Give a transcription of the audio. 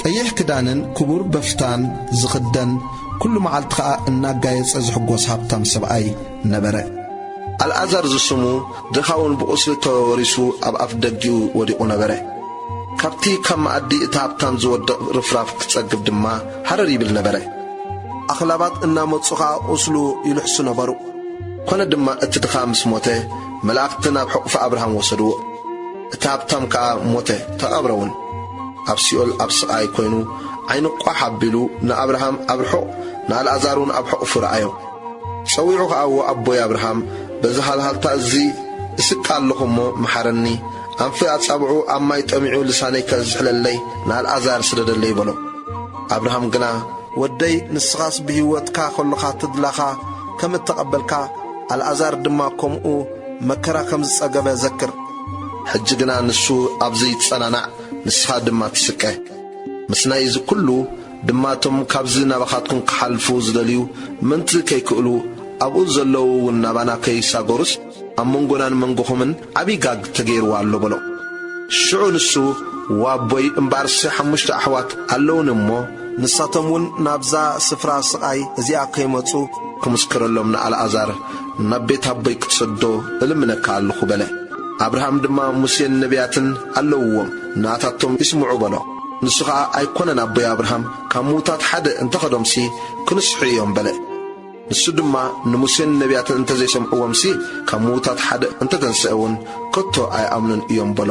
ቀይሕ ክዳንን ክቡር በፍታን ዝኽደን፣ ኩሉ መዓልቲ ከኣ እናጋየጸ ዝሕጎስ ሃብታም ሰብኣይ ነበረ። ኣልኣዛር ዝስሙ ድኻውን ብቑስሊ ተወሪሱ ኣብ ኣፍ ደጊኡ ወዲቑ ነበረ። ካብቲ ካብ መኣዲ እቲ ሃብታም ዝወድቕ ርፍራፍ ክጸግብ ድማ ሃረር ይብል ነበረ። ኣኽላባት እናመጹ ከኣ ቁስሉ ይልሕሱ ነበሩ። ኮነ ድማ እቲ ድኻ ምስ ሞተ መላእኽቲ ናብ ሕቑፊ ኣብርሃም ወሰድዎ። እቲ ሃብታም ከኣ ሞተ፣ ተቐብረ እውን። ኣብ ሲኦል ኣብ ስቓይ ኰይኑ ዓይኑ ቋሕ ኣቢሉ ንኣብርሃም ኣብ ርሑቕ ንኣልኣዛር እውን ኣብ ሕቝፉ ረኣዮ። ጸዊዑ ኸኣ እዎ ኣቦይ ኣብርሃም በዚ ሃልሃልታ እዚ እስቀ ኣሎኹ እሞ መሓረኒ፣ ኣንፊ ኣጻብዑ ኣብ ማይ ጠሚዑ ልሳነይ ከዝሕለለይ ንኣልኣዛር ስደደለይ በሎ። ኣብርሃም ግና። ወደይ ንስኻስ ብህይወትካ ከሎኻ ትድላኻ ከም እተቐበልካ ኣልኣዛር ድማ ከምኡ መከራ ከም ዝጸገበ ዘክር። ሕጂ ግና ንሱ ኣብዚ ይጸናናዕ ንስኻ ድማ ትስቀ። ምስናይ እዚ ኩሉ ድማ እቶም ካብዚ ናባኻትኩም ክሓልፉ ዝደልዩ ምእንቲ ከይክእሉ ኣብኡ ዘለዉ እውን ናባና ከይሳጎሩስ ኣብ መንጎናን መንጎኹምን ዓቢ ጋግ ተገይርዎ ኣሎ በሎ። ሽዑ ንሱ እዋ ኣቦይ እምበኣርሲ ሓሙሽተ ኣሕዋት ኣለዉኒ እሞ፣ ንሳቶም እውን ናብዛ ስፍራ ስቓይ እዚኣ ከይመጹ ክምስክረሎም ንኣልኣዛር ናብ ቤት ኣቦይ ክትሰዶ እልምነካ ኣሎኹ በለ። ኣብርሃም ድማ ሙሴን ነብያትን ኣለዉዎም፣ ንኣታቶም ይስምዑ በሎ። ንሱ ኸኣ ኣይኰነን ኣቦይ ኣብርሃም፣ ካብ ምዉታት ሓደ እንተ ኸዶምሲ፣ ክንስሑ እዮም በለ። ንሱ ድማ ንሙሴን ነብያትን እንተ ዘይሰምዕዎምሲ፣ ካብ ምዉታት ሓደ እንተ ተንስኤውን፣ ከቶ ኣይኣምኑን እዮም በሎ።